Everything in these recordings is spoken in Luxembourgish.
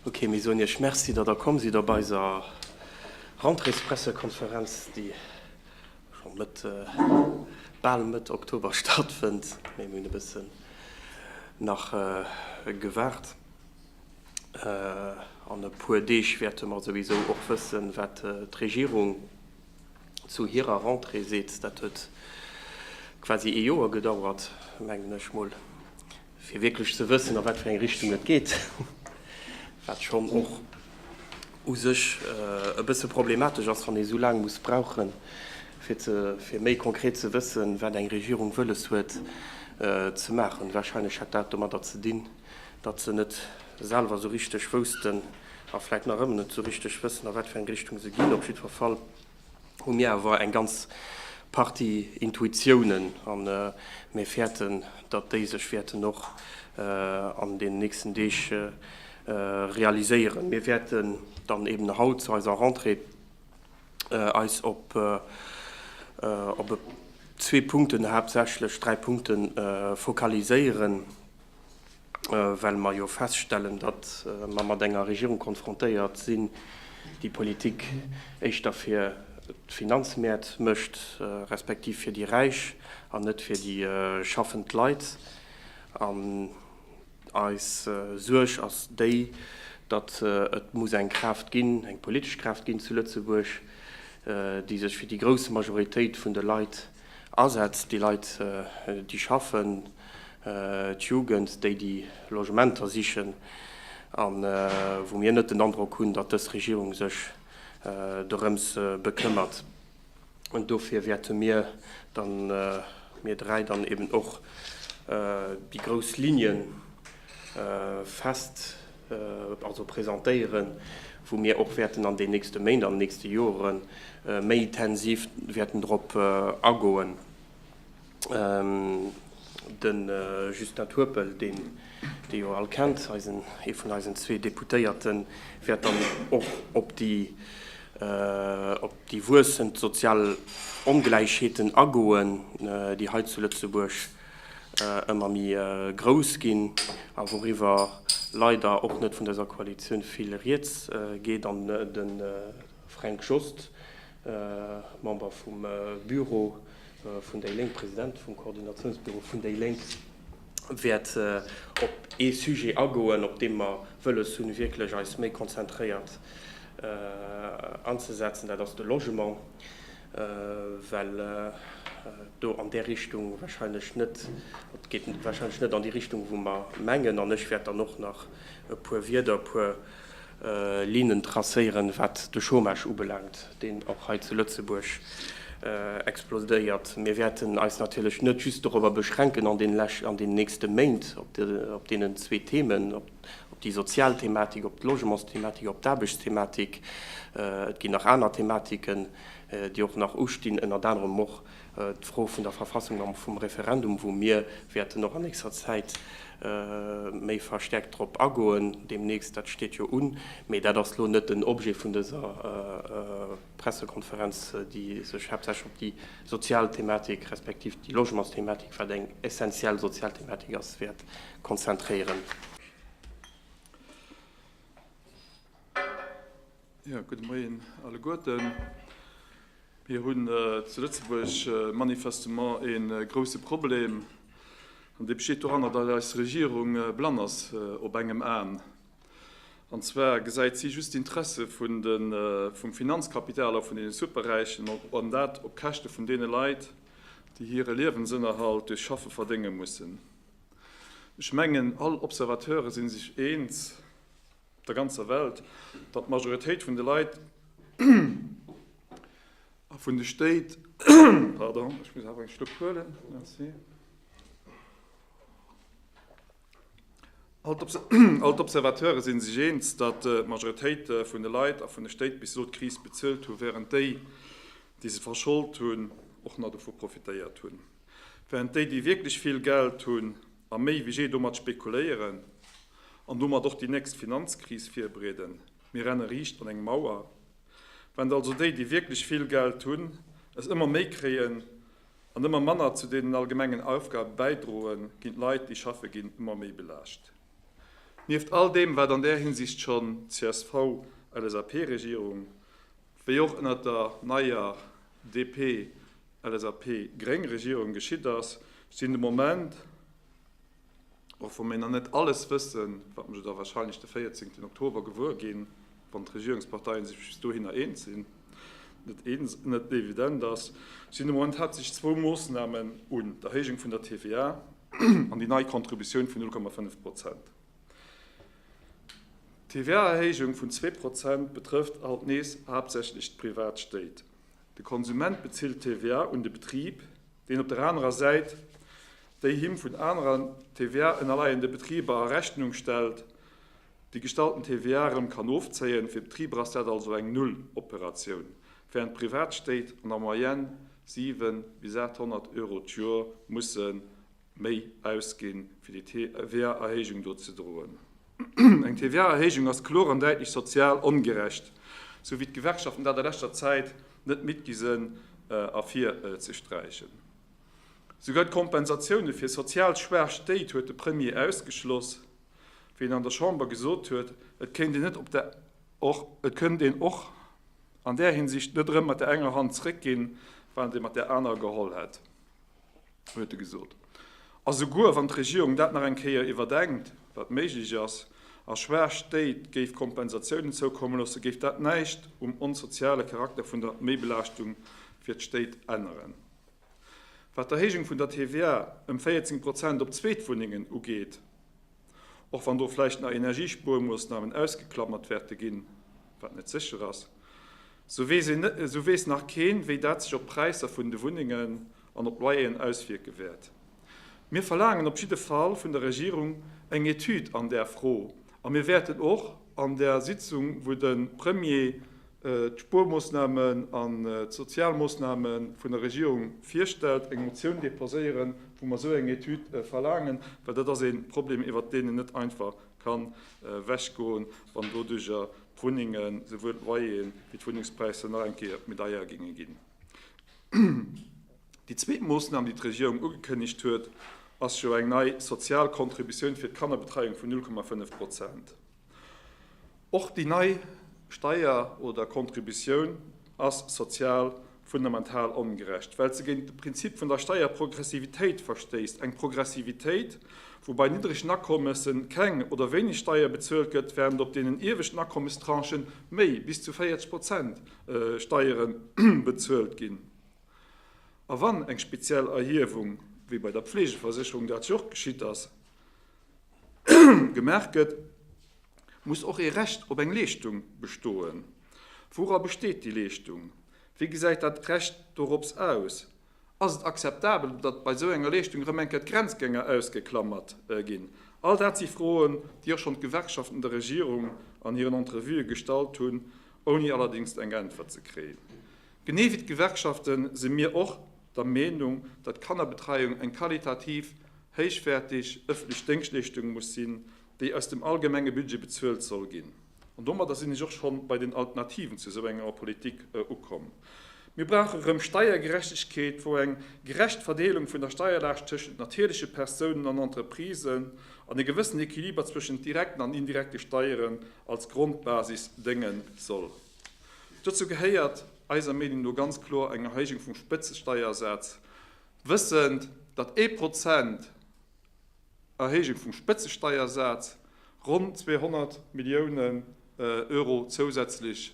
Ok, mir soen Iech Merci, datt Der komm sidd op eiser Rentréespressekonferenz, déi scho Mëtt, bal Mëtt Oktober stattfënnt, mee mir hunn e bëssen nach gewaart. An e puer Deeg wäerte mer souwisou och wëssen, wat d'Regierung zu hirer Rentrée seet. Dat huet quasi ee Joer gedauert, mengen ech mol. fir wierklech ze wëssen, a wat fir eng Richtung et geet, wat schonn och u sech e bësse problematesch ass, wann ee sou laang muss brauchen, fir méi konkret ze wëssen, wat eng Regierung wëlles huet ze maachen. Warscheinlech hätt dat domadder ze dinn, datt se net selwer esou richteg woussten a vläicht nach ëmmer net esou richteg wëssen, a wat fir eng Richtung se ginn. Op jiddwer Fall. hu mir awer eng ganz Partie Intuitiounen a mir fäerten, datt déi sech wäerten och an deenen nächsten Deeg realiséieren. Mir wäerten dann eben haut zu eiser Rentrée eis op zwee Punkten, haaptsächlech dräi Punkte focaliséieren. well mer jo feststellen, datt mer mat enger Regierung konfrontéiert sinn, déi Politik éischter fir d'Finanzmäert mécht, respektiv fir déi Räich an net fir déi schaffend Leit. An eis Suerg ass déi, datt et muss eng Kraaft ginn, eng politesch Kraaft ginn zu Lëtzebuerg, déi sech fir déi grouss Majoritéit vun de Leit Asätz, déi Leit, déi schaffen, d'Jugend, déi déi Logementer sichen, a wou mir net den Androck hunn, datt dës Regierung sech dorëms bekëmmert. An dofir wäerte mir dann, mir dräi dann eben och déi grouss Ligne fest. also presentéieren, wou mir och wäerten an den nächste Méint, an den nächste Jore méi tensiv wäerten drop agoen. De Justin Turpel, deen Dir jo all kennt, ee vun eisen zwee Deputéierten, wäert dann och op déi wuessend sozial Ongläichheeten agoen, déi hei zu Lëtzebuerg ëmmer méi grouss ginn a wouriwwer leider och net vun dëser Koalitioun vill rieds geet an de Fränk Jost, Member vum Büro vun déi Lénk, President vum Koordinatiounsbüro vun déi Lénk, wäert op ee Sujet agoen, op deem mer wëlles hunn, wierklech eis méi konzentréiert anzesetzen, dat ass de Logement. well et do an där Richtung wahrscheinlech net, et geet wahrscheinlech net an déi Richtung, wou mer mengen. An ech wäert dann och nach e puer Wierder, e puer Lignen tracéieren, wat de Chômage ubelaangt, deen och hei zu Lëtzebuerg explodéiert. Mir wäerten eis natierlech net just dorobber beschränken an deenen nächste Méint, op deenen zwee Themen, op déi sozial Thematik, op d'Logementsthematik, op d'Aarbechtsthematik. Et ginn nach aner Thematiken, déi och nach ustinn, ënnert anerem och d'Fro vun der Verfassung a vum Referendum, wou mir wäerten och an nächster Zäit méi verstäerkt drop agoen deemnächst. Dat steet jo un. Mee dat ass elo net den Objet vun dëser Pressekonferenz, déi sech haaptsächlech op déi sozial Thematik, respektiv déi Logementsthematik, wat eng essenziell sozial Thematik ass, wäert konzentréieren. Jo, gudde Moien alleguerten. Mir hunn zu Lëtzebuerg manifestement ee grouse Problem, an dee besteet doranner, datt eis Regierung blann ass op engem Aen. An zwar gesäit si just d'Interesse vum Finanzkapital a vun deene Superräichen, an dat op Käschte vun deene Leit, déi hire Liewensënnerhalt duerch Schaffe verdénge mussen. Ech mengen, all Observateure si sech eens, op der ganzer Welt, datt d'Majoritéit vun de Leit a vun de Stéit All d'Observateure si sech eens, datt d'Majoritéit vun de Leit a vun de Stéit bis elo d'Kris bezuelt hunn, wärend déi, déi se verscholt hunn, och nach dovu profitéiert hunn. Wärend déi, déi wierklech vill Geld hunn a méi wéi jee domat spekuléieren an domat och déi nächst Finanzkris virbereeden. Mir renne riicht an eng Mauer. Wärend also déi, déi wierklech vill Geld hunn, es ëmmer méi kréien, An ëmmer manner zu deenen allgemengen Aufgabe bäidroen, ginn d'Leit, déi schaffe ginn, ëmmer méi belaascht. Nieft all deem, wat an där Hinsicht schonn d'CSV-LSAP-Regierung, wéi och ënnert der neier DP-LSAP-Gréng-Regierung geschitt ass, sinn de Moment, Och wa mir nach net alles wëssen, wat mer jo da wahrscheinlech de 14 Oktober gewuer ginn, wann d'Regierungsparteien sech bis dohinner eens sinn, net evident ass, sinn de Moment haaptsächlech zwou Moossnamen un, d'Erhéijung vun der TVA an déi nei Contributioun vun 0,5 Prozent. D'TVA-Erhéijung vun zwee Prozent betrëfft alt nees haaptsächlech d'privat Stéit. De Konsument bezilt d'TVA un de Betrib, deen op der anerer Säit déi him vun anerer TVA ënnerleiende Betriber a Rechnung stellt, déi gestallten TVA erëm kann ofzéien. Fir d'Betriber ass dat also eng Nulloperatioun, während d'Privatstéit an der Moyenne 700 bis 800 Euro d'Joer mussen méi ausginn, fir déi TVA-Erhéijung do ze droen. Eng TVA-Erhéijung ass kloer an däitlech sozial ongerecht, sou wéi d'Gewerkschaften dat a leschter Zäit net midd gi sinn ervirzesträichen. Souguer d'Kompensatioune fir sozial schwaach Stéit huet de Premier ausgeschloss, wéi en an der Chamber gesot huet, et kéint een och an där Hinsicht net erëm mat der enger Hand zeréckginn, wann et ee mat där anerer geholl hätt. huet e gesot. A souguer wann d'Regierung dat nach eng Kéier iwwerdenkt, wat méiglech ass, a schwaach Stéit géif Kompensatiounen zoukomme loosse, géif dat näischt um onsoziale Charakter vun der Méibelaaschtung fir d'Stéit änneren. Wat d'Erhéijung vun der TVA ëm 14 Prozent op Zweetwunnengen ugeet, Och wann do vläicht nach Energiespuermoossnamen ausgeklamert wäerte ginn, wat net sécher ass, esou weess nach keen, wéi dat sech op d'Präisser vun de Wunnengen an op d'Loyeren auswierke wäert. Mir verlaangen op jidde Fall vun der Regierung eng Etüd an där Fro a mir wäerten och an där Sitzung, wou de Premier d'Spuermoossnamen an d'sozial Moossname vun der Regierung virstellt, eng Motioun deposéieren, wou mer esou eng Etüd verlaangen, well dat ass e Problem, iwwert deen een net einfach ka wechgoen, wann doduerjer d'Wunnengen, esouwuel d'Loyeren wéi d'Wunnengspräisser nach eng Kéier méi deier géinge ginn. Déi zweet Moossnam, déi d'Regierung ugekënnegt huet, ass jo eng nei sozial Contributioun fir d'Kannerbetreiung vun 0,5 Prozent. Och déi nei Steier oder Contributioun ass sozial fundamental ongerecht, well se géint de Prinzip vun der Steierprogressivitéit verstéisst, eng Progressivitéit, wou bei niddregen Akommesse keng oder wéineg Steier bezuelt gëtt, während op deenen ieweschten Akommestranchen méi, bis zu 40 Prozent, Steiere bezuelt ginn. A wann eng speziell Erhiewung, wéi bei der Pflegeversécherung, dat jo och geschitt ass, gemaach gëtt, muss och ee Recht op eng Leeschtung bestoen. Woura besteet déi Leeschtung? Wéi gesäit dat Recht dorops aus? Ass et akzeptabel, datt bei esou enger Leeschtung erëm eng Kéier d'Grenzgänger ausgeklammert ginn? All dat si Froen, déi och schonn d'Gewerkschaften der Regierung an hiren Entrevuë gestallt hunn, ouni allerdéngs eng Äntwert ze kréien. Genee wéi d'Gewerkschafte si mir och der Meenung, datt d'Kannerbetreiung eng qualitativ héichwäertig öffentlech Déngschtleeschtung muss sinn, déi aus dem allgemenge Budget bezuelt soll ginn. An domadder sinn ech och scho bei den Alternativen zu esou enger Politik ukomm. Mir brauche rëm Steiergerechtegkeet, wou eng gerecht Verdeelung vun der Steierlaascht tëschent natierleche Persounen an Entreprisen an e gewëssenen Equiliber zwëschent direkten an indirekte Steieren als Grondbasis dënge soll. Dozou gehéiert eiser Meenung no ganz kloer eng Erhéijung vum Spëtzesteiersaz, wëssend, datt ee Prozent Erhéijung vum Spëtzesteiersaz ronn 200 Milliounen Euro zousätzlech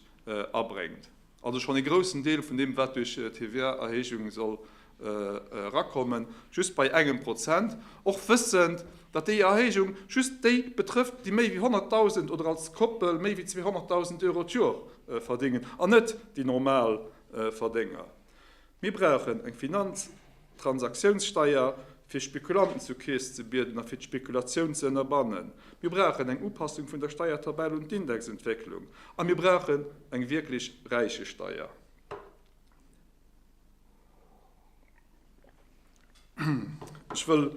abréngt, also schonn ee groussen Deel vun deem, wat duerch d'TVA-Erhéijung soll erakommen, just bei engem Prozent, och wëssend, datt déi Erhéijung just déi betrëfft, déi méi wéi 100.000 oder als Koppel méi wéi 200.000 Euro d'Jor verdéngen, an net déi normal Verdénger. Mir brauchen eng Finanztransaktiounssteier, fir Spekulanten zur Keess ze bieden a fir d'Spekulatioun ze ënnerbannen. Mir brauchen eng Upassung vun der Steiertabell un d'Indexentwécklung. A mir brauchen eng wierklech Räichesteier. Ech wëll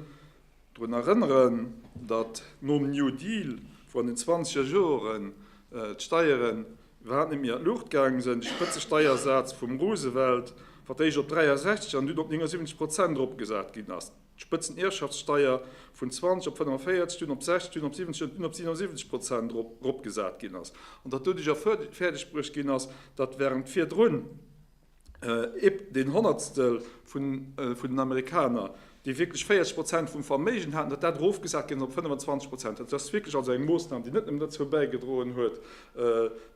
drun erënneren, datt nom New Deal, wou an den zwanzeger Joren d'Steieren iwwerhaapt net méi an d'Luucht gaange sinn, de Spëtzesteiersaz vum Roosevelt fir d'éischt op 63 an dunn op 79 Prozent eropgesat ginn ass, d'Spëtzenerbschaftssteier vun 20 op 45, dunn op 60, dunn op 70 an dunn op 77 Prozent eropgesat ginn ass, an datt doduerjer fäerdegbruecht ginn ass, datt wärend virdrun, Epp den Honnertstel vun den Amerikaner, déi wierklech 40 Prozent vum Verméigen haten, datt dat erofgesat ginn ass op 25 Prozent. Dat ass wierklech also eng Moossnam, déi net nëmmen dozou bäigedroen huet,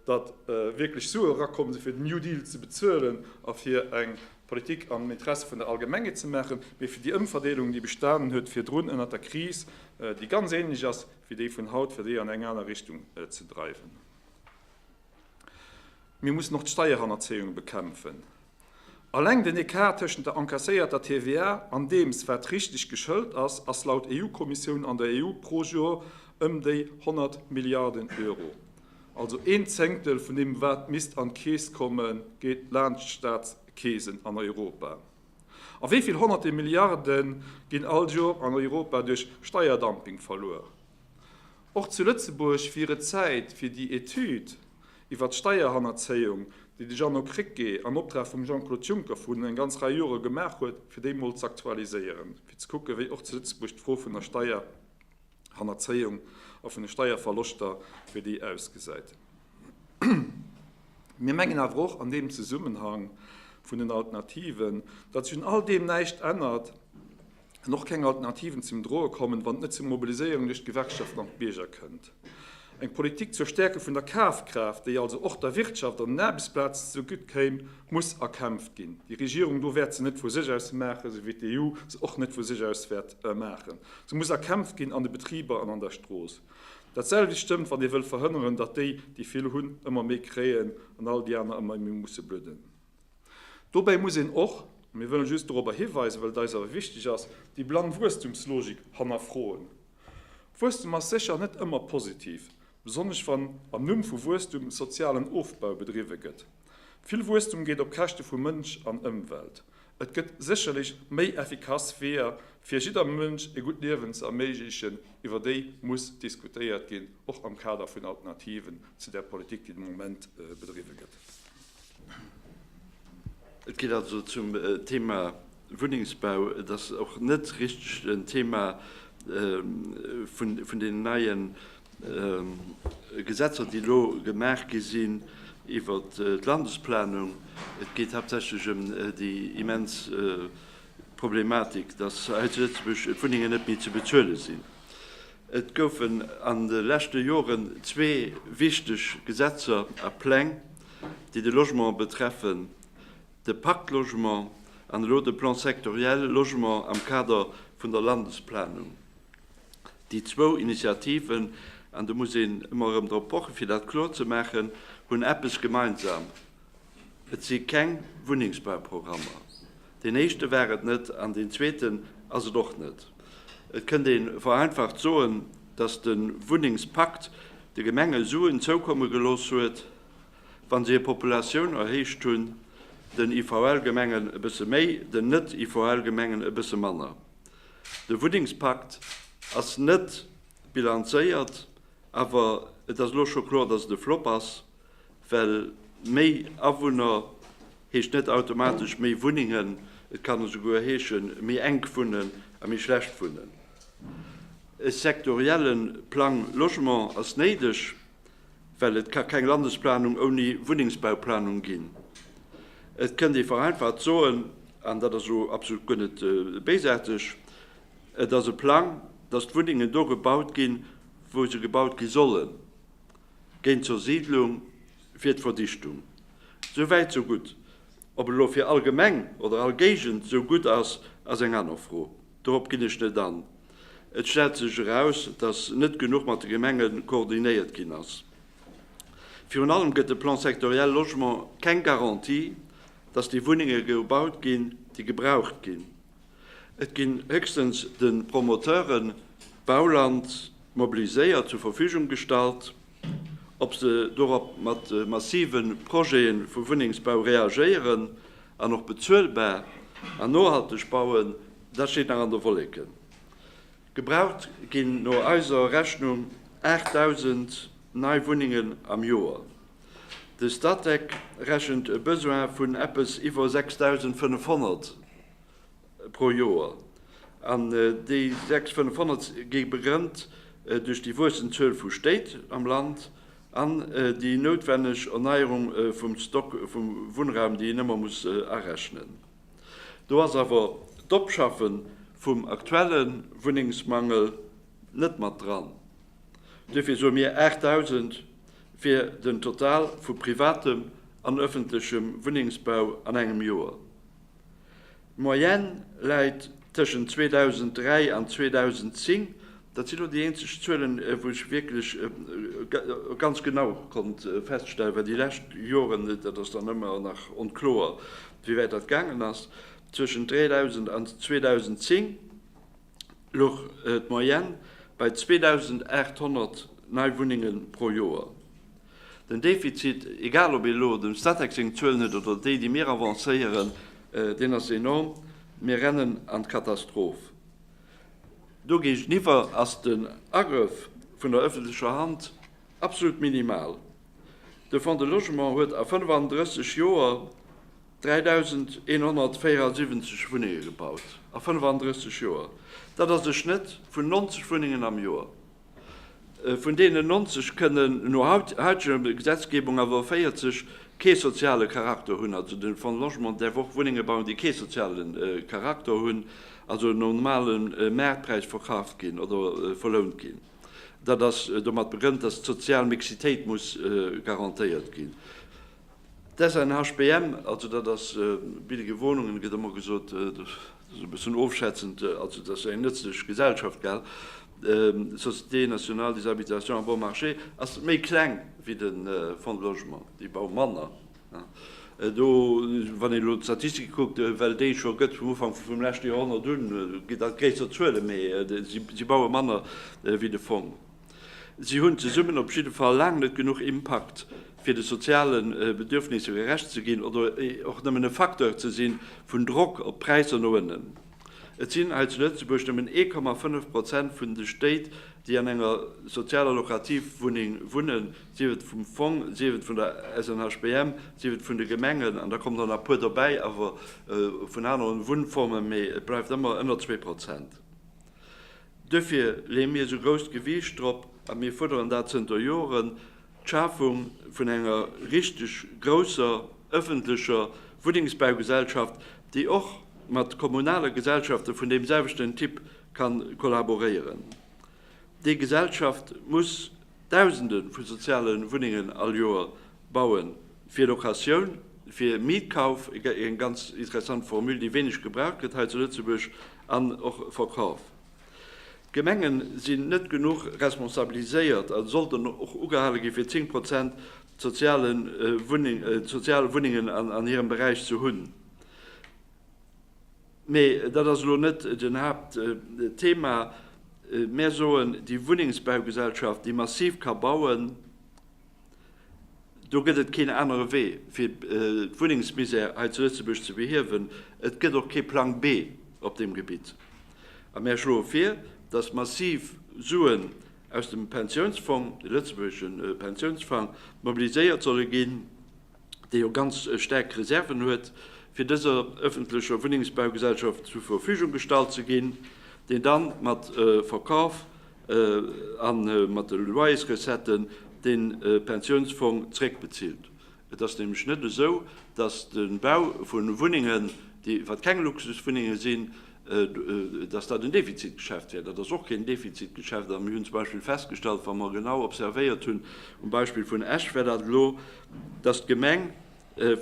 datt wierklech Sue erakomm sinn, fir den New Deal ze bezuelen a fir eng Politik am Interesse vun der Allgemengheet ze maachen, mee fir déi Ëmverdeelung, déi bestanen huet virdrun ënnert der Kris, déi ganz änlech ass wéi déi vun haut, fir déi an eng aner Richtung ze dreiwen. Mir mussen och d'Steierhannerzéiung bekämpfen. Alleng den Ecart tëschent der encasséierter TVA an deems, wat richteg geschëlt ass, ass laut EU-Kommissioun an der EU pro Jour ëm déi 100 Milliarden Euro. Also een Zéngtel vun deem, wat misst an d'Keess kommen, geet laant d'Staatskeesen an Europa. A wéi vill Honnerte Milliarde ginn all Jour an Europa duerch Steierdumping verluer? Och zu Lëtzebuerg wier et Zäit fir déi Etüd iwwer d'Steierhannerzéiung, déi de Jeannot Krecké am Optrag vum Jean-Claude Juncker vrun eng ganz Rei Jore gemaach huet, fir déi mol z'aktualiséieren, fir ze kucken, wéi och zu Lëtzebuerg d'Fro vun der Steierhannerzéiung a vun de Steierverloschter, wéi déi ausgesäit. Mir mengen awer och an deem Zesummenhang vun den Alternativen, datt sech un all deem näischt ännert. an och keng Alternativen zum Droe kommen, wann et net zu Mobiliséierungen duerch d'Gewerkschaften an d'Bierger kënnt. Eng Politik zur Stäerke vun der Kafkraaft, déi also och der Wirtschaft an den Aarbechtsplazen ze gutt kéim, muss erkämpft ginn. Déi Regierung do wäert se net vu sech aus maachen, esou wéi d'EU se och net vu sech aus wäert maachen. Se muss erkämpft ginn an de Betriber an an der Strooss. Dat selwecht stëmmt, wann ee wëll verhënneren, datt déi, déi vill hunn, ëmmer méi kréien an all déi aner ëmmer méi musse bludden. Dobäi muss een och, mir wëllen just dorobber hiweisen, well et eis awer wichteg ass, déi blann Wuesstumslogik hannerfroen. Wuesstum ass sécher net ëmmer positiv, besonnesch wann am Numm vu Wuesstum sozialen Ofbau bedriwwe gëtt. Vill Wuesstum geet op Käschte vu Mënsch an Ëmwelt. Et gëtt sécherlech méi effikass Weeër, fir jidder Mënsch e gutt Liewen ze erméiglechen, iwwer déi muss diskutéiert ginn, och am Kader vun Alternativen zu där Politik, déi de Moment bedriwwe gëtt. Et geet also zum Thema Wunnengsbau, et ass och net richteg en Thema vun deenen neie Gesetzer, déi elo gemaach gi sinn iwwer d'Landesplanung. Et geet haaptsächlech ëm déi immens Problematik, datt hei zu Lëtzebuerg d'Wunnengen net méi ze bezuele sinn. Et goufen an de leschte Joren zwee wichteg Gesetzer a Pläng déi de Logement betreffen, de Pacte Logement an elo de Plan sectoriel Logement am Kader vun der Landesplanung. Déi zwou Initiativen, an do muss een ëmmer erëm drop pochen, fir dat kloer ze maachen, hunn eppes gemeinsam, Et si keng Wunnengsbauprogrammer, Deen éischte war et net an deen zweeten ass et och net. Et kënnt ee vereinfacht soen, dass de Wunnengspakt de Gemenge Suen zoukomme gelooss huet, wa se hir Populatioun erhéicht hunn, den IVL-Gemengen e bësse méi, den Net-IVL-Gemengen e bësse manner. De Wunnengspakt ass net bilanzéiert, awer et ass elo scho kloer, dass et e Flop ass. Well méi Awunner heescht net automatesch méi Wunnengen, et kann esouguer heeschen, méi enk wunnen a méi schlecht wunnen. E sektorielle Plang Logement ass néideg, well et ka keng Landesplanung ouni Wunnengsbauplanung ginn. Et kënnt ee vereinfacht soen, an dat ass elo absolut guer net béisaarteg, et ass e Plang, datt d'Wunnengen do gebaut ginn, wou se gebaut gi sollen. Géint d'Zersiidlung wier d'Verdichtung. Sou wäit, sou gutt. Ob elo fir all Gemeng oder all Géigend esou gutt ass, ass eng aner Fro. Dorop ginn ech net an. Et stellt sech eraus, datt net genuch mat de Gemenge koordinéiert ginn ass. Virun allem gëtt de Plan sectoriel Logement keng Garantie, datt déi Wunnenge gebaut ginn, déi gebraucht ginn. Et ginn héchstens de Promoteure Bauland mobiliséiert, zur Verfügung gestallt, ob se dorop mat massive Projete vu Wunnengsbau reagéieren an och bezuelbar an nohalteg bauen, dat steet nach an de Wolleken. Gebraucht ginn no eiser Rechnung 8.000 nei Wunnengen am Joer. De Statec rechent e Besoin vun eppes iwwer 6.500 pro Joer. An déi 6.500 gi begrënnt duerch déi wuessend Zuel vu Stéit am Land an déi noutwenneg Erneierung vum Stock vu Wunnraum, déi een ëmmer muss arechnen. Do ass awer d'Opschaffe vum aktuelle Wunnengsmangel net mat dran. Duerfir soe mir 8.000 fir den Total vu privatem an ëffentlechem Wunnengsbau an engem Joer. D'Moyenne läit tëschent 2003 an 2010, dat sinn elo déi eenzeg Zuelen, wou ech wierklech ganz genau konnt feststellen, well déi lescht Joren, dat ass dann ëmmer nach onkloer, wéi wäit dat gaangen ass, tëschent 3.000 an 2010. Luch d'Moyenne bei 2.800 nei Wunnenge pro Joer. Den Defizit, egal ob ee elo dem Statec seng Zuelen huet oder déi, déi mir avancéieren, deen ass enorm. Mir rennen an d'Katastroph. Do géigeniwwer ass den Agrëff vun der ëffentlecher Hand absolut minimal. De Fonds de Logement huet a 35 Joer, 3.174 Wunnenge gebaut a 35 Joer. Dat ass e Schnëtt vun 90 Wunnengen am Joer. Vun deenen 90 kënnen no hauteger Gesetzgebung awer 40 kee soziale Charakter hunn. Also de Fonds Logement däerf och Wunnenge bauen, déi kee soziale Charakter hunn, also nom normale Maartpräis verkaaft ginn oder verlount ginn. Dat ass domat begrënnt, datt d'sozial Mixitéit muss garantéiert ginn. D'SNHBM, also dat ass Billege Wohnungen, gëtt ëmmer gesot, dat ass e bëssen ofschätzend, also dat ass eng nëtzlech Gesellschaft, gell, Société nationale des habitations à bon marché, ass méi kleng wéi de Fonds de logement, déi baue manner. Do, wann een elo d'Statistike kuckt, well déi et scho gëtt vum Ufank vum leschte Joerhonnert un, ginn dat gréisser Zuele, mee si baue manner wéi de Fong. Si hunn zesummen op jidde Fall laang net genuch Impakt, fir de soziale Bedürfnisse gerecht ze ginn oder och nëmmen e Facteur ze si vun Drock op d'Präisser no ënnen. Et sinn hei zu Lëtzebuerg nëmmen 1,5 Prozent vun de Stéit, déi an enger sozialer Lokativwunneng wunnen, sief et vum Fong, sief et vun der SNHBM, sief et vun de Gemengen, an da kommen der nach e puer derbäi awer vun aneren Wunnformen, mee et bleift ëmmer ënner zwee Prozent. Duerfir leeë mir esou grousst Gewiicht drop, a mir fuerderen dat zënter Joren, d'Schafung vun enger richteg grousser ëffentlecher Wunnengsbaugesellschaft, déi och mat kommunale Gesellschafte vun deem selwechten Typ ka kollaboréieren. Déi Gesellschaft muss Dausende vu soziale Wunnengen all Joer bauen, fir Locatioun, fir Mietkauf, eng ganz interessant Formule, déi wéineg gebraucht gëtt hei zu Lëtzebuerg, an och Verkauf. D'Gemenge sinn net genuch responsabiliséiert a sollten och ugehale ginn, fir 10 Prozent sozial Wunnengen an hirem Beräich ze hunn. Mee dat ass elo net den Haaptthema. Mär soen, déi Wunnengsbaugesellschaft, déi massiv ka bauen, do gëtt et keen anere Wee, fir d'Wunnengsmisère hei zu Lëtzebuerg ze behiewen. Et gëtt och kee Plang B op deem Gebitt. A mär schloe vir, dass massiv Suen aus dem Pensiounsfong, de lëtzebuergesche Pensiounsfang, mobiliséiert solle ginn, déi jo ganz staark Reserven huet, fir dëser öffentlecher Wunnengsbaugesellschaft zur Verfügung gestallt ze ginn, deen dann mat Verkauf a mat de Loyersrecetten de Pensionsfong zréckbezilt. Et ass nämlech net esou, dass de Bau vu Wunnengen, déi wat keng Luxuswunnenge sinn, dass dat en Defizitgeschäft wär. Dat ass och keen Defizitgeschäft. A mir hunn zum Beispill festgestallt, wa mer genau observéiert hunn, um Beispill vun Esch war dat elo, dass d'Gemeng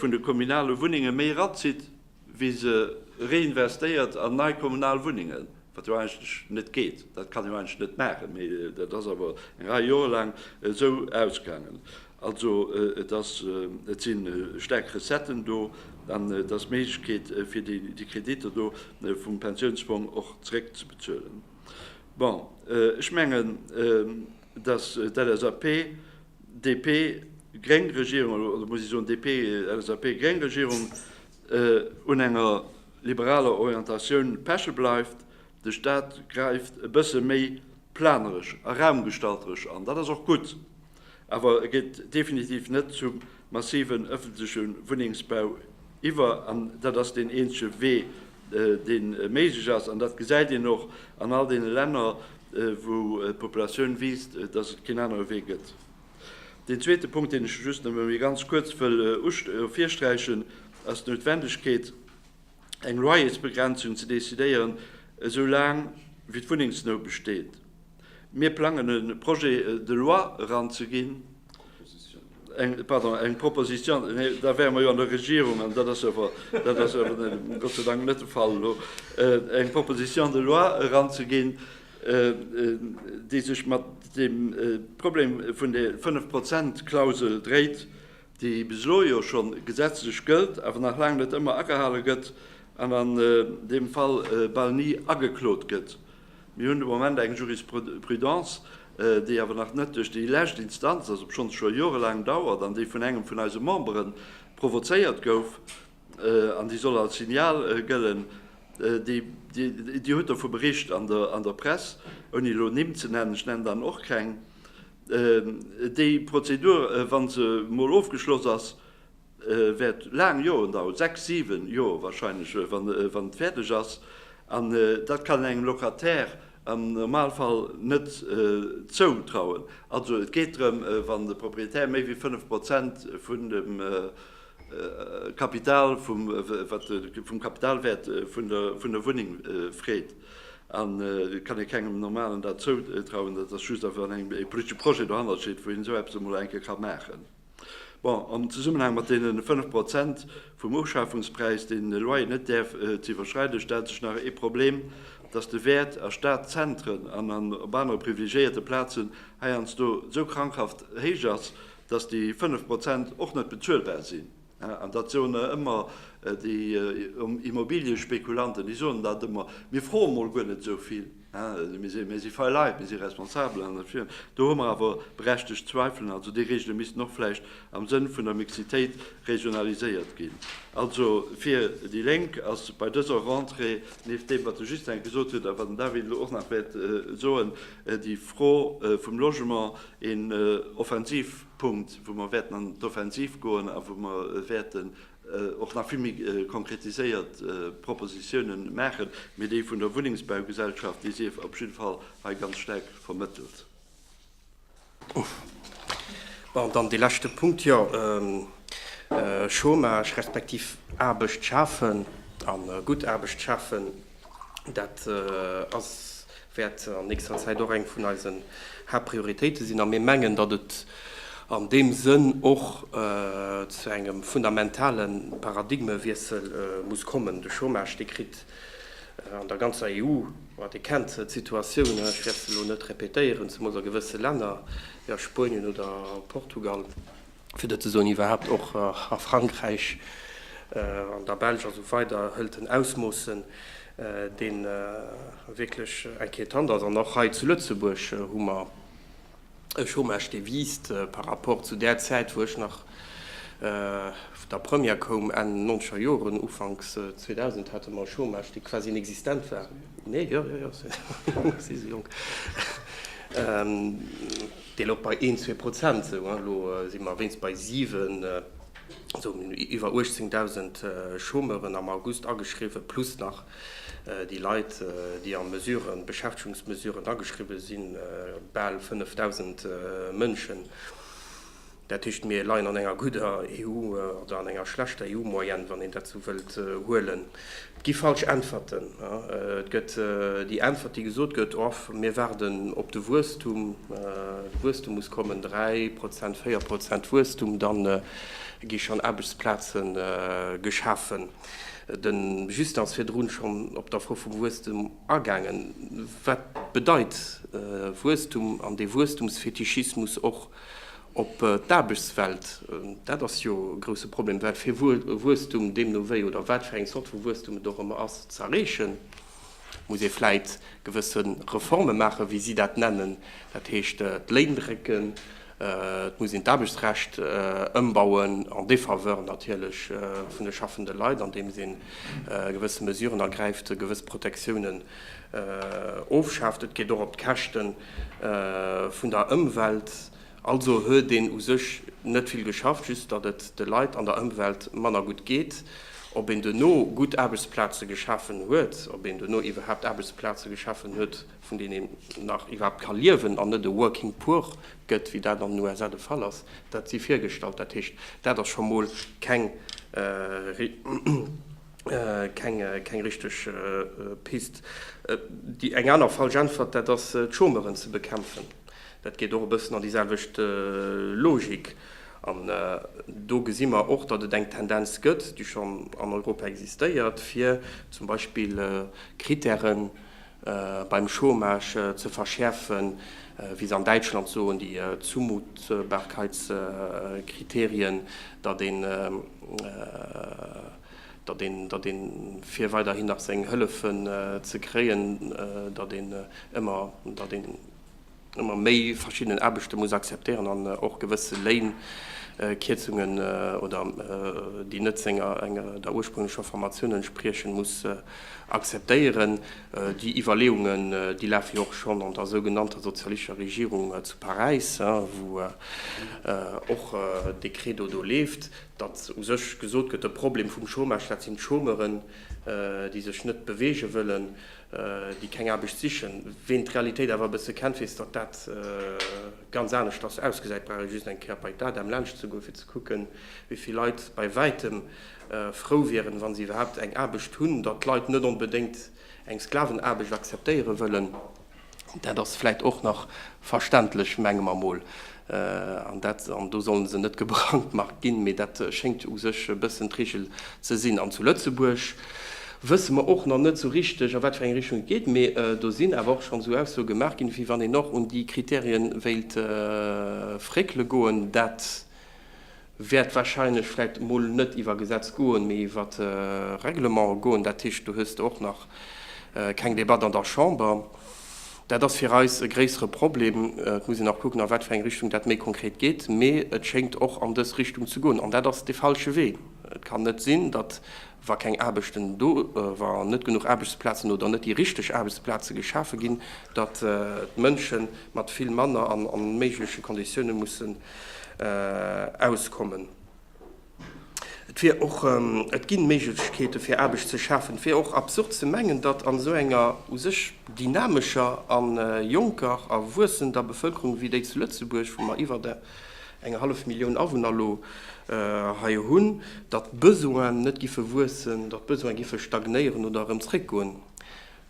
vun de kommunale Wunnenge méi erazitt, wéi se reinvestéiert an nei kommunal Wunnengen, wat jo eigentlech net geet. Dat kann een jo eigentlech net maachen. Mee dat ass awer eng Rei Joer laang esou ausgaangen. Also et ass, et si staark Recetten do an et ass d'Méiglechkeet fir déi Kreditter do vum Pensiounsfong och zeréckzebezuelen. Bon, ech mengen, datt d'LSAP-DP-gréng Regierung, oder muss ech soen DP-LSAP-gréng Regierung, un enger liberaler Orientatioun peche bleift. De Staat gräift e bësse méi planeresch a raumgestalteresch an. Dat ass och gutt. Awer e geet definitiv net zum massiven öffentleche Wunnengsbau iwwer. An dat ass deen eenzege Wee, dee méiglech ass. An dat gesäit een och an all deene Länner, wou d'Populatioun wiisst, dass et keen anere Wee gëtt. Deen zweete Punkt, deen ech just nëmme méi ganz kuerz wëll virsträichen, ass d'Noutwendegkeet, eng Loyersbegrenzung ze decidéieren, esou laang wéi d'Wunnengsnout besteet. Mir plangen e Projet de loi eranzeginn, pardon, eng Proposition, nee, da wäre mer jo an der Regierung, an dat ass awer, dat ass awer Gott sei Dank net de Fall elo, eng Proposition de loi eranzeginn, déi sech mat deem Problem vun der Fënnf-Prozent-Klausel dréit, déi bis elo jo scho gesetzlech gëllt, awer nach laang net ëmmer agehale gëtt an an deem Fall bal ni ageklot gëtt. Mir hunn de Moment eng Jurisprudence, déi awer nach net duerch déi lescht Instanz ass, obschonns scho jorelaang dauert, an déi vun engem vun eise Membere provozéiert gouf an déi soll als Signal gëllen. Dir hutt dovu bericht an der Press, ouni elo Nimm ze nennen, ech nennen dann och keng, Déi Prozedur, wa se mol ofgeschloss ass, wäert laang Joren daueren, sechs, siwen Joer wahrscheinlech, wa se fäerdeg ass. An dat kann een engem Locataire am Normalfall net zoutrauen. Also et geet drëm, wann de Proprietär méi wéi fënnef Prozent vun dem Kapital vum, wat de vum Kapitalwäert vun der Wunneng freet. An et kann ee kengem Normalen dat zoutrauen, dat ass just wann ee politesche Projet dohannert steet, wou een esou eppes emol eng Kéier ka maachen. Bon, am Zesummenhang mat deene fënnef Prozent vum Ofschafungspräis, deen de Loyer net däerf ze iwwerschreiden, stellt sech nach ee Problem, dass de Wäert a Stadzentren an op anere privilegiéierte Plazen heiansdo esou krankhaft héich ass, datt déi 5 Prozent och net bezuelbar sinn, an dat soen der ëmmer déi Immobiliëspekulanten, déi soen dat ëmmer, mir froe mol guer net esou vill, mir si fei Leit, mir si responsabel, an do hu mer awer berechtegt Zweifelen. Also déi Regele missten och vläicht am Sënn vun der Mixitéit regionaliséiert ginn. Also fir déi Lénk ass bei dëser Rentrée, nieft deem wat de Justin gesot huet a wat den David elo och nach wäert soen, déi Fro vum Logement, Een Offensivpunkt, wou mer wäerten an d'Offensiv goen a wou mer wäerten och nach vill méi konkretiséiert Propositionen maachen, mee dee vun der Wunnengsbaugesellschaft, dee sief op jidde Fall hei ganz staark vermëttelt. Bon, dann dee leschte Punkt, jo, Chômage respektiv Aarbecht schafen a gutt Aarbecht schafen. Dat ass, wäert an nächster Zäit och eng vun eisen Haaptprioritéite sinn a mir mengen, datt et an deem Sënn och zu engem fundamentale Paradigmewiessel muss kommen. De Chômage, dee kritt an der ganzer EU, ma Dir kennt d'Situatioun, ech wäert se elo net répétéieren, zemools a gewësse Länner wéi a Spuenien oder Portugal, fir net ze soen iwwerhaapt och a Frankräich, an der Belsch a sou weider, hëlt en Ausmoossen, dee wierklech inquietant ass. An och hei zu Lëtzebuerg hu mer e Chômage, dee wiisst par rapport zu där Zäit, wou ech nach vun der Première koum, Enn nonzeger Joren, Ufanks 2000, hate mer e Chômage, dee quasi inexistent war. Nee, jo, jo, jo, si sou jonk. Déi louch bei een, zwee Prozent esou. Elo si mer wéinst bei siwen, also mir hunn iwwer 18.000 Chômeuren am August ageschriwwen, plus nach déi Leit, déi a Mesuren, Beschäftegungsmesuren ageschriwwen sinn, bal 5.000 Mënschen. Dat heescht, mir leien an enger gudder EU oder an enger schlechter EU-Moyenne, wann een dat esou wëllt huelen. Et gi falsch Äntwerten. Et gëtt déi Äntwert, déi gesot gëtt, Off, mir waarden op de Wuesstum, de Wuesstum muss kommen, dräi Prozent, véier Prozent Wuesstum, da gi schonn Aarbechtsplaze geschafen. De Justin ass virdrun schonn op d'Afro vum Wuesstum agaangen. Wat bedeit Wuesstum an dee Wuesstumsfetischismus och Op d'Aarbechtswelt, dat ass jo e grousse Problem, wat fir Wuesstum deemno wéi oder wat fir eng Zort vu Wuesstum et och ëmmer ass, ze erreechen, muss ee vläit gewësse Reforme maachen, wéi si dat nennen, dat heescht d'Léin drécken, et muss een d'Aarbechtsrecht ëmbauen en défaveur natierlech vun de schaffende Leit, andeems ee gewësse Mesuren ergräift, gewëss Protectiounen ofschaaft. Et geet och op d'Käschten vun der Ëmwelt. Also huet een u sech net vill geschafft, just datt et de Leit an der Ëmwelt manner gutt geet. Ob een duerno gutt Aarbechtsplaze geschafen huet, ob een duerno iwwerhaapt Aarbechtsplaze geschafen huet, vun deenen een nach iwwerhaapt ka liewen an net e working poor gëtt, wéi dat an den USA de Fall ass, dat si virgestallt. Dat heescht, dat ass scho mol keng. Keng richteg Pist. Déi eng aner falsch Äntwert, dat ass d'Chômeuren ze bekämpfen. Dat geet och e bëssen an déi selwecht Logik. An do gesi mer och, datt et eng Tendenz gëtt, déi schonn an Europa existéiert, fir zum Beispill Krittären beim Chômage ze verschäerfen, wéi se an Däitschland soen, déi Zumutbarkeitskriterien, datt een, datt een, datt ee fir weiderhin nach seng Hëllefen ze kréien, datt een ëmmer, datt een, ëmmer méi verschiddenen Aarbechte muss akzeptéieren an och gewësse Léinkierzungen oder déi net senger enger der ursprünglecher Formatioun entspriechen, muss akzeptéieren. Déi Iwwerleeungen, déi lafe jo och schonn an der sougenannter sozialistischer Regierung zu Paräis, wou och dee Credo do leeft, datt u sech gesot gëtt, de Problem vum Chômage, dat sinn d'Chômeuren, déi sech net beweege wëllen, déi keng Aarbecht sichen. Ween d'Realitéit awer e bësse kennt, weess, datt dat ganz aneschters ausgesäit. Brauch ee just eng Kéier bei d'ADEM laanscht ze goen, fir ze kucken, wéi vill Leit bei wäitem frou wieren, wa se iwwerhaapt eng Aarbecht hunn. Datt d'Leit net onbedéngt eng Sklavenaarbecht akzeptéiere wëllen, dat ass vläicht och nach verständlech, menge mer mol. An dat, an do sollen se net gebrandmarkt ginn, mee dat schéngt u sech e bëssen d'Regel ze sinn. An zu Lëtzebuerg wësse mer och nach net esou richteg, a wat fir eng Richtung et geet. Mee do sinn awer och schonn esou Aussoe gemaach ginn, wéi wann een och un déi Kriterien wéilt fréckele goen. Dat wäert wahrscheinlech vläit mol net iwwer Gesetz goen, mee iwwer Règlement goen. Dat heescht, do hues de och nach keng Debatt an der Chamber. Dat ass fir eis e gréissere Problem. Et muss een nach kucken, a wat fir eng Richtung dat méi konkret geet. Mee et schéngt och an dës Richtung ze goen, an dat ass de falsche Wee. Et kann net sinn, datt, wa keng Aarbechten do, wa net genuch Aarbechtsplazen oder net déi richteg Aarbechtsplaze geschafe ginn, datt d'Mënsche mat vill manner an onméigleche Konditioune musse auskommen. Et wier och, et ginn Méiglechkeete fir Aarbecht ze schafen. Et wier och absurd ze mengen, datt an esou enger u sech dynamescher a jonker a wuessender Bevëlkerung wéi déi zu Lëtzebuerg, wou mer iwwert eng hallef Millioun Awunner elo hei hunn, datt d'Besoinen net giffe wuessen, datt d'Besoine giffe stagnéieren oder erëm zréckgoen.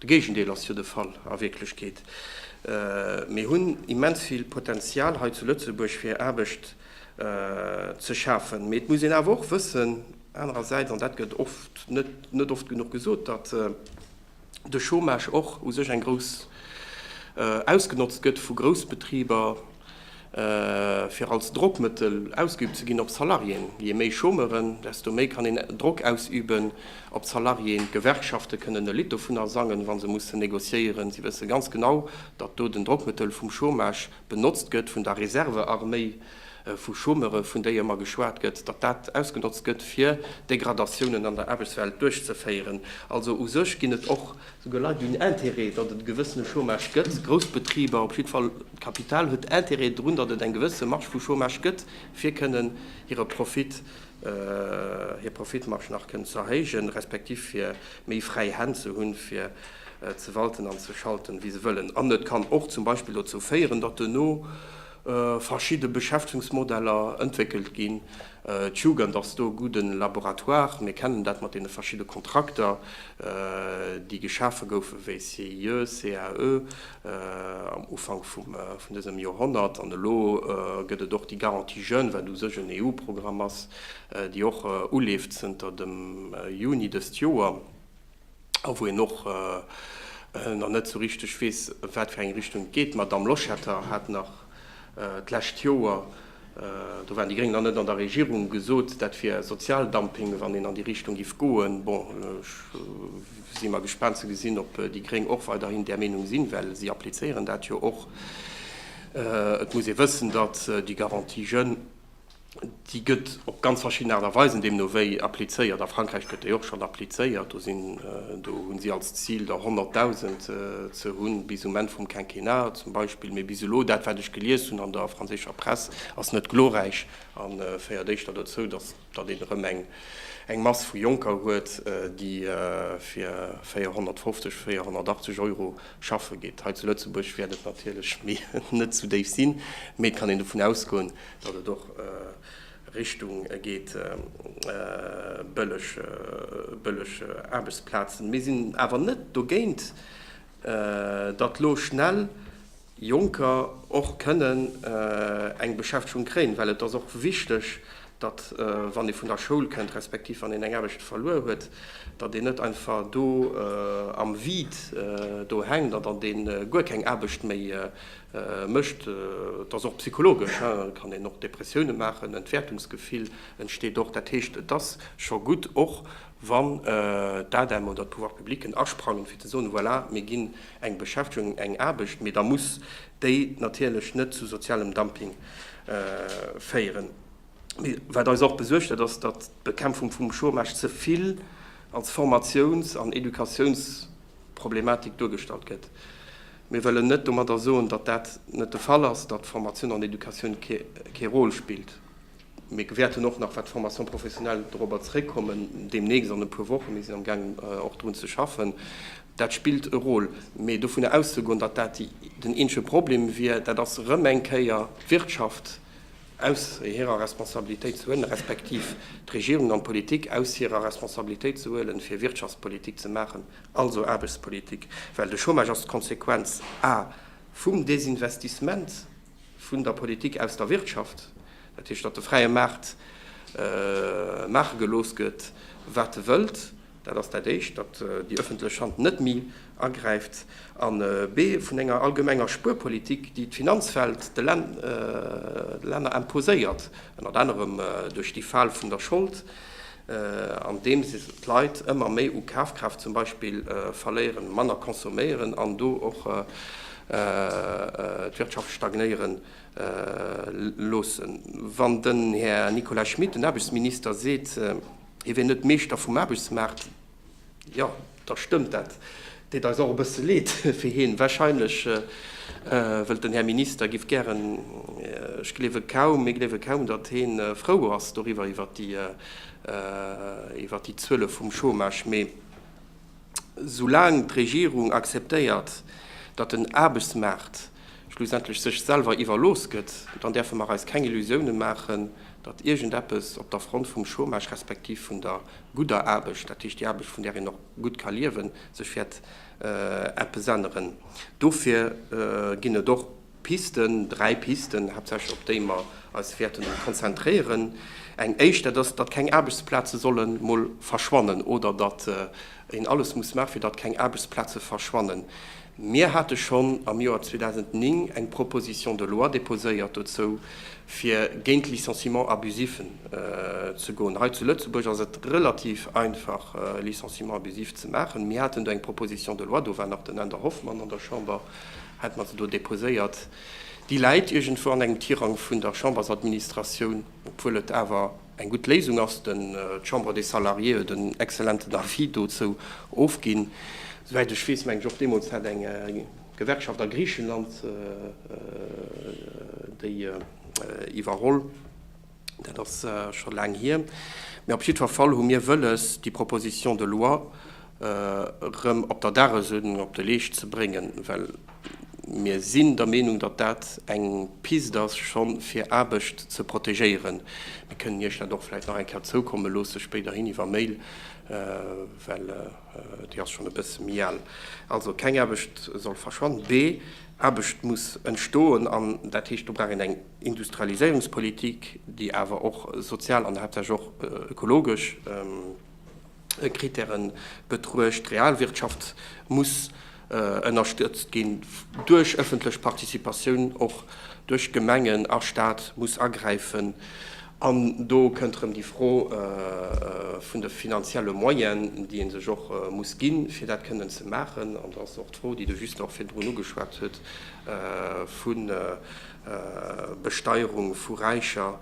De Géigendeel ass jo de Fall a Wierklechkeet. Mir hunn immens vill Potenzial hei zu Lëtzebuerg fir Aarbecht ze schafen. Mee et muss een awer och wëssen anerersäits, an dat gëtt oft, net oft genuch gesot, datt de Chômage och u sech eng grouss ausgenotzt gëtt vu Groussbetriber, fir als Drockmëttel ausgeübt ze ginn op Salariéen. Jee méi Chômeuren, desto méi kann een Drock ausüben op d'Salariéen. D'Gewerkschafte kënnen e Lidd dovunner sangen, wa se mussen negociéieren. Si wësse ganz genau, datt do den Drockmëttel vum Chômage benotzt gëtt, vun der Reservearméi vu Chômeure vun déi ëmmer geschwat gëtt, datt dat ausgenotzt gëtt, fir Degradatiounen an der Aarbechtswelt duerchzeféieren. Also u sech ginn et och Souguer Leit hunn Intérêt, datt et e gewëssene Chômage gëtt, grouss Betriber, op jiddwer Fall d'Kapital huet Intérêt drun, datt et eng gewësse Marge vu Chômage gëtt, fir kënnen hire Profit, hir Profitmarge nach kënnen ze erhéijen, respektiv fir méi fräi Hänn ze hunn, fir ze walten an ze schalten, wéi se wëllen. An et kann och zum Beispill dozou féieren, datt duerno, verschidde Beschäftegungsmodeller entwéckelt ginn. D'Jugend ass do e gudden Laboratoire. Mir kennen dat mat deene verschidde Kontrakter, déi geschafe goufen, wéi CIE, CAE am Ufank vum vun dësem Joerhonnert. An elo gëtt et och déi Garantie jeunes, wat u sech en EU-Programm ass, déi och uleeft zënter dem Juni dëst Joer. a wou een och nach net esou richteg weess, a wat fir eng Richtung et geet. D'Madamm Loschetter hat nach d'lescht Joer, do waren déi Gréng nach net an der Regierung, gesot, dat wier Sozialdumping, wann een an déi Richtung géif goen. Bon, ech si mar gespaant ze gesinn, ob déi Gréng och weiderhin där Meenung sinn, well si applizéieren dat jo och. Et muss ee wëssen, datt déi Garantie jeunes, Déi gëtt op ganz verschidden Aart a Weisen deemno wéi applizéiert. A Frankräich gëtt déi och schonn applizéiert. Do sinn, do hunn si als Zil der 100.000 ze hunn bis um Enn vum Quinquennat zum Beispill. Mee bis elo, dat wat ech gelies hunn an der franséischer Press, ass net glorräich a féiert éischter dozou, datt, datt een erëm eng, eng Mass vu Jonker huet, déi fir 450, 480 Euro schaffe geet. Hei zu Lëtzebuerg wäert et natierlech méi net esou déif sinn, mee et kann een dovun ausgoen, datt et och Richtung geet bëlleg Aarbechtsplazen. Mir sinn awer net dogéint, datt lo schnell Jonker och kënnen eng Beschäftegung kréien, well et ass och wichteg, datt wann ee vun der Schoul kënnt, respektiv wann een eng Aarbecht verluer huet, datt een net einfach do am Vide do hänkt an datt ee guer keng Aarbecht méi Mécht. Et ass och psychologesch, et kann een och Depressioune maachen, Entwäertungsgefill entsteet och. Dat heescht, et ass scho gutt, och wann d'ADEM oder d'Pouvoirs publics asprangen, fir ze soen, Voilà, mir ginn eng Beschäftegung, eng Aarbecht, mee da muss déi natierlech net zu sozialem Dumping féieren. Mee wat eis och besuergt, dat ass, datt d'Bekämpfung vum Chômage ze vill als Formatiouns an Educatiounsproblematik duergestallt gëtt. Mir wëllen net domadder soen, datt dat net de Fall ass, datt Formatioun an Educatioun kee Rôle spillt. Mir gewäerten och nach, wat d'Formation professionnelle, dorobber zeréckkommen deemnächst, an e puer Wochen, mir sinn am gaangen och drun ze schaffen, dat spillt e Rôle. Mee dovunner auszegoen, datt dat den eenzege Problem wier, dat ass erëm eng Kéier d'Wirtschaft aus hirer Responsabilitéit ze huelen, respektiv d'Regierung an d'Politik aus hirer Responsabilitéit ze huelen, fir Wirtschaftspolitik ze maachen. Also Aarbechtspolitik, well de Chômage ass d'Konsequenz a vum Desinvestissement vun der Politik aus der Wirtschaft. Dat heescht, datt de fräie Maart maache gelooss gëtt, wat e wëllt. Dat ass dat Éischt, datt déi ëffentlech Hand net méi agräift. A B, vun enger allgemenger Spuerpolitik, déi d'Finanzwelt de Länner imposéiert, ënnert anerem duerch déi Fal vun der Schold, andeems d'Leit ëmmer méi u Kafkraaft zum Beispill verléieren, manner consomméieren an do och d'Wirtschaft stagnéiere loossen. Wann den Här Nicolas Schmit, den Aarbechtsminister, seet, hie wier net Meeschter vum Aarbechtsmaart, Jo, da stëmmt dat. Deet eis och e bësse Leed fir hien. Wahrscheinlech wëllt den Här Minister, giff gären, ech gleewe kaum, mir gleewe kaum, datt hien frou ass doriwwer, iwwert déi, iwwert déi Zuele vum Chômage. Mee soulaang d'Regierung akzeptéiert, datt den Aarbechtsmaart schlussendlech sech selwer iwwerlooss gëtt, dann däerfe mer eis keng Illusiounen maachen, datt iergendeppes op der Front vum Chômage respektiv vun der gudder Aarbecht, dat heescht déi Aarbecht vun där een och gutt ka liewen, sech wäert eppes änneren. Dofir ginn et och Pisten, dräi Pisten haaptsächlech, op déi mer eis wäerten konzentréieren. Eng éischt, dat ass, datt keng Aarbechtsplaze solle mol verschwannen oder datt een alles muss maachen, fir datt keng Aarbechtsplaze verschwannen. Mir hate schonn am Joer 2009 eng Proposition de loi déposéiert dozou, fir géint d'Licenciements abusifs ze goen. Hei zu Lëtzebuerg ass et relativ einfach, Licenciements abusifs ze maachen. Mir haten do eng Proposition de loi, do war nach den Änder Hoffmann an der Chamber, hat mer se do déposéiert. Déi läit iergendwou an engem Tirang vun der Chambersadministratioun, obwuel et awer. eng gutt Léisung ass. D'Chambre des Salariés huet en excellenten Avis dozou ofginn, souwäit ech weess. Mengen ech och, deemools hat eng Gewerkschaft a Griichenland déi iwwerholl. Dat ass scho laang hier. Mee op jiddwer Fall hu mir wëlles, déi Proposition de loi erëm op der Dagesuerdnung op de Leescht ze bréngen, well Mir sinn der Meenung, datt dat eng Pist ass, scho fir Aarbecht ze protegéieren. Mir kënnen Iech dat och vläicht nach eng Kéier zoukomme loosse spéiderhin iwwer Mail, well déi ass schonn e bësse méi al. Also, keng Aarbecht soll verschwannen. B, Aarbecht muss entstoen, an dat heescht, do brauch een eng Industrialiséierungspolitik, déi awer och sozial an haaptsächlech och ökologesch, Kritären betruecht. D'Realwirtschaft muss ënnerstëtzt ginn duerch ëffentlech Participatioun, och duerch Gemengen a Staat muss agräifen. An do kënnt erëm déi Fro vun de finanzielle Moyen, déi ee sech och muss ginn, fir dat kënnen ze maachen. An da ass och d'Fro, déi de Juste och virdrun ugeschwat huet, vu Besteierung vu Räicher,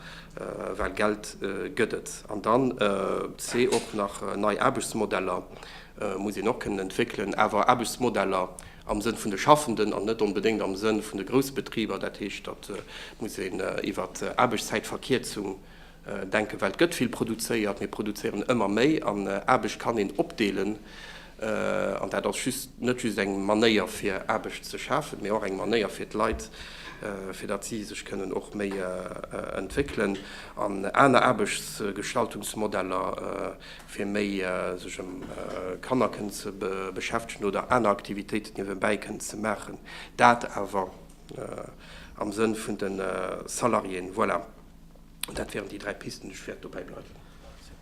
well Geld gëtt et. An dann c och nach nei Aarbechtsmodeller muss een och kënnen entwéckelen, awer Aarbechtsmodeller am Sënn vun de Schaffenden an net onbedéngt am Sënn vun de Groussbetriber. Dat heescht, datt muss een iwwert Aarbechtszäitverkierzung Denken, well et gëtt vill produzéiert, mir produzéieren ëmmer méi an Aarbecht kann een opdeelen an dat ass just, net just eng Manéier fir Aarbecht ze schafen, mee och eng Manéier fir d'Leit, fir datt si sech kënnen och méi entwéckelen an aner Aarbechtsgestaltungsmodeller, fir méi sech ëm Kanner kënnen ze beschäftegen oder aner Aktivitéiten niewebäi kënnen ze maachen, dat awer. am Sënn vun de Salariéen. Voilà, dat wären déi dräi Pisten, déi ech wäert dobäi bleiwen.